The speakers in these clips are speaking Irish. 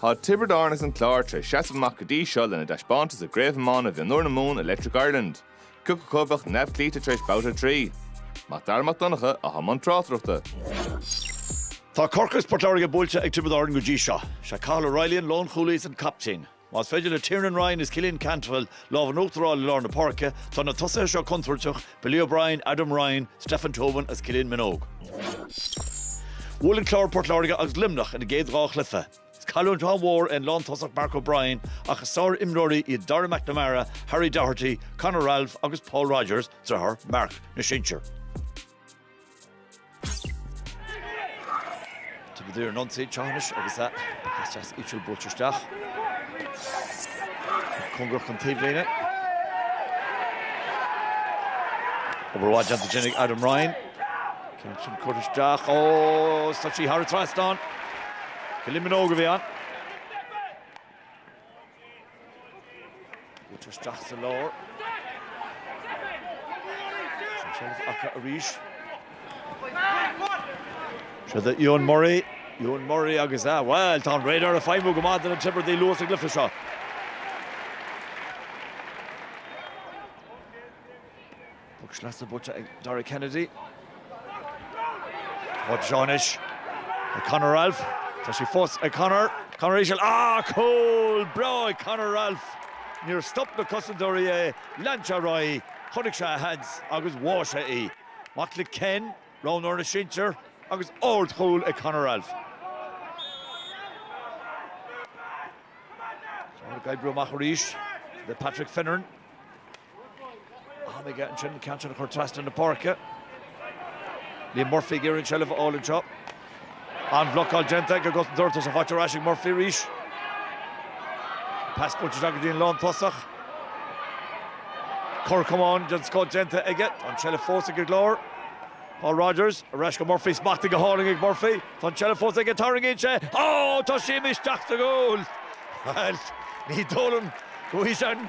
Tá Tiobraid Árann agus an Clár tar éis seasamh amach go dtí seo lena dtaispeántas i gCraobh Iomána Mhionúir na Mumhan Electric Ireland. Cé acu a bheadh neamhchloíte tar éis babhta a trí. Mac Dara Mac Donncha, atá i mbun tráchtaireachta. Tá Corcaigh agus Port Láirge buailte ag Tiobraid Árann go dtí seo. Is é Cathal O'Reilly an lánchúlaí agus an captaen. Más féidir le Tiernan Ryan is Cillian Cantwell lámh in uachtar a fháil i lár na páirce, tá na tosaithe seo contúirteach, Billy O'Brien, Adam Ryan, Stefan Tobin agus Cillian Minogue. Bhuail an Clár Port Láirge agus Luimneach ina gcéad dhá chluiche. Is cailliúint an-mhór é an lántosach Marc O'Brien ach is sárimreoirí iad Darragh McNamara, Harry Doherty, Conor Ralph agus Paul Rodgers, driotháir Mark na sinsear. Tiobraid ar an ionsaí anois agus tá sí íseal buailte isteach. Cóngarach don taobhlíne. Obair mhaith déanta ansin ag Adam Ryan. Ceann sin curtha isteach? Ó, tá sí thar an trasdán. Cillian Minogue a bhí ann. Buailte isteach sa lár. Sin seilbh acu arís. Seod é Euan Murray. Euan Murray agus a, bhuel, tá an radar ag feidhmiú go maith do na Tiobradaigh luath sa gcluiche seo. Puc sleasa buailte ag Dara Kennedy. Tá sí seo anois ag Conor Ralph. Tá sí fós ag Conor. Conor íseal. Ah, cúl breá ag Conor Ralph. Níor stop na cosantóirí é. Lean sé ar aghaidh, chonaic sé a sheans agus bháigh sé í. Mac le Ken, roghnóir na sinsear, agus ardchúl ag Conor Ralph. Tá sé ag oibriú amach arís le Patrick Finneran. Tháinig ansin ceann sin curtha trasna na páirce. Liam Murphy ag iarraidh an tseilbh a fháil anseo. An-bhlocáil déanta ag an gcosantóir, tá sí faighte ar ais ag Murphy arís. Pas buailte anseo go dtí an lántosach. Cor camáin den scoth déanta aige. Tá an tseilbh fós ag an gClár. Paul Rodgers ar ais go Murphy. Smachtaithe go hálainn ag Murphy. Tá an tseilbh fós aige. Tarraingíonn sé. Á! Tá sí imithe isteach sa gcúl! Bhuel, ní dóigh liom go bhfaighidh sé an.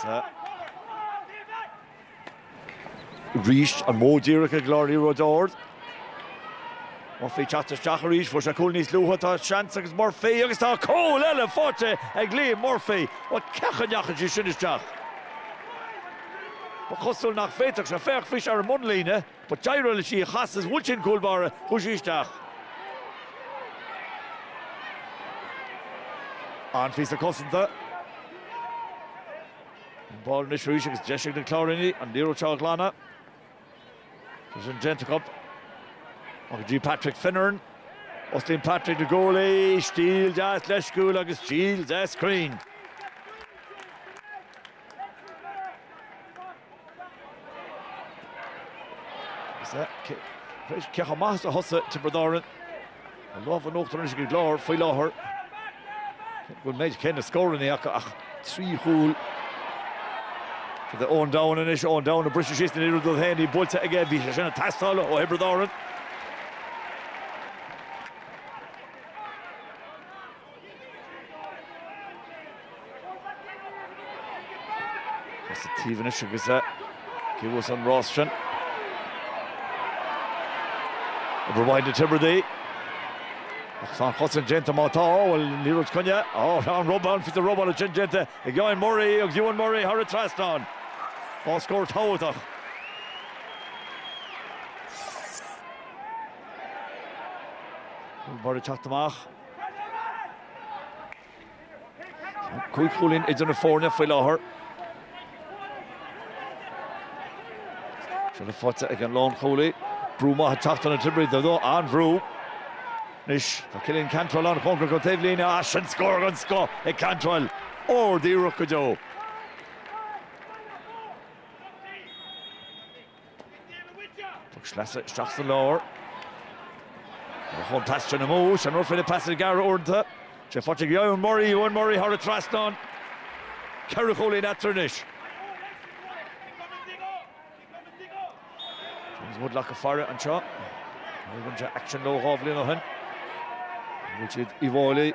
Sa. Arís an modh díreach ag an gClár, liathróid ard. Murphy teacht isteach arís, fuair sé cúl níos luaithe, tá seans agus Murphy agus tá cúl eile faighte ag Liam Murphy. Bhuel, cén chaoi a ndeachaigh sí sin isteach? Ba chosúil nach bhféadfadh sé, féach bhí sé ar an mbunlíne. But d'éirigh leis í a chasadh is bhuail sí an cúl báire, chuaigh sí isteach. An-phíosa cosanta. An ball anois arís agus deis ag na Cláirínigh an liathróid seo a ghlanadh. Tá sin déanta acu. Go dtí Patrick Finneran. Osclaíonn Patrick na guaillí, stíl deas leisciúil agus stíl deas cruinn. Ceacha maith as a thosa, Tiobraid Árann. An lámh in uachtar anois ag an gClár faoi láthair. Cé go mbeidh cé na scóranna acu ach trí chúl. Is é Eoghan Doughan anois, Eoghan Doughan ag briseadh síos ag iarraidh dul féin. Ní buailte aige, bhí sé sin ag teastáil ó Thiobraid Árann. Tá sa taobh anois agus cé a bhuafas an rás sin. Obair mhaith na Tiobradaigh. Ach tá an chosaint déanta má tá, bhfuil an liathróid coinnithe. Ó, tá an robáil, an fios an robáil ansin déanta ag Euan Murray agus Euan Murray thar an trasnán. Ó scór tábhachtach. Murray ag teacht amach. Cúig chúilín idir na foirne faoi láthair. Seilbh faighte ag an lánchúlaí. Brú maith ag teacht ó na Tiobradaigh, an-bhrú. Anois tá Killian Cantwell an-chóngarach don taobhlíne as sin, scór den scoth ag Cantwell, ard-iarracht go deo. Poc sleasa isteach sa lár. Ó chuaigh an pas sin amú, sin an rud faoi na pasanna gearra uaireanta. Sé faighte ag Euan Murray, Euan Murray thar an trasnán. Ceithre chúilín eatarthu anois. James Woodlock ag faire anseo. Rinne sé aicsean leo dhá bhliain ó shin. Bhuail siad Uíbh Fhailí.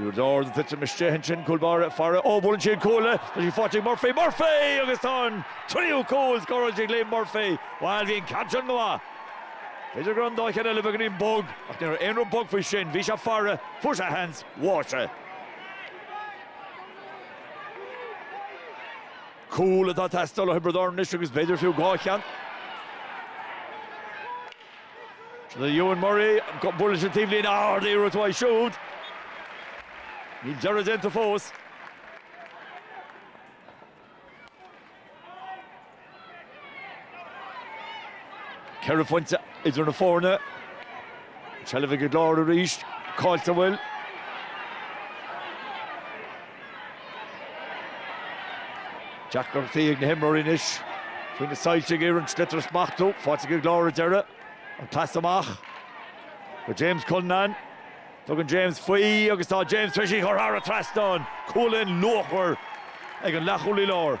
Úd ard ag titim isteach ansin, cúl báire ag faire, ó, buaileann sí an cuaille, tá sí faighte ag Murphy, Murphy! agus tá an tríú cúl scóráilte ag Liam Murphy. Bhuel, bhí an ceann sin go maith. B'fhéidir go raibh an dá cheann eile beagáinín bog, ach ní raibh aon rud bog faoi sin, bhí sé ag faire, fuair sé a sheans, bhuaigh sé. Cúl atá ag teastáil ó Thiobraid Árann anois agus b'fhéidir fiú dhá cheann. Rinne Euan Murray bua leis an taobhlíne ard-iarracht uaidh siúd. Níl deireadh déanta fós. Ceithre phointe idir na foirne. An tseilbh ag an gClár arís. Caillte an bhfuil. Deacrachtaí ag na himreoirí anois faoi na soilse ag iarraidh an sliotar a smachtú. Fálta go leor ar deireadh. An pas amach go James Cullinane. Tugann James faoi agus tá James tar éis í chur thar an trasnán. Cúilín luachmhar ag an leathchúlaí láir.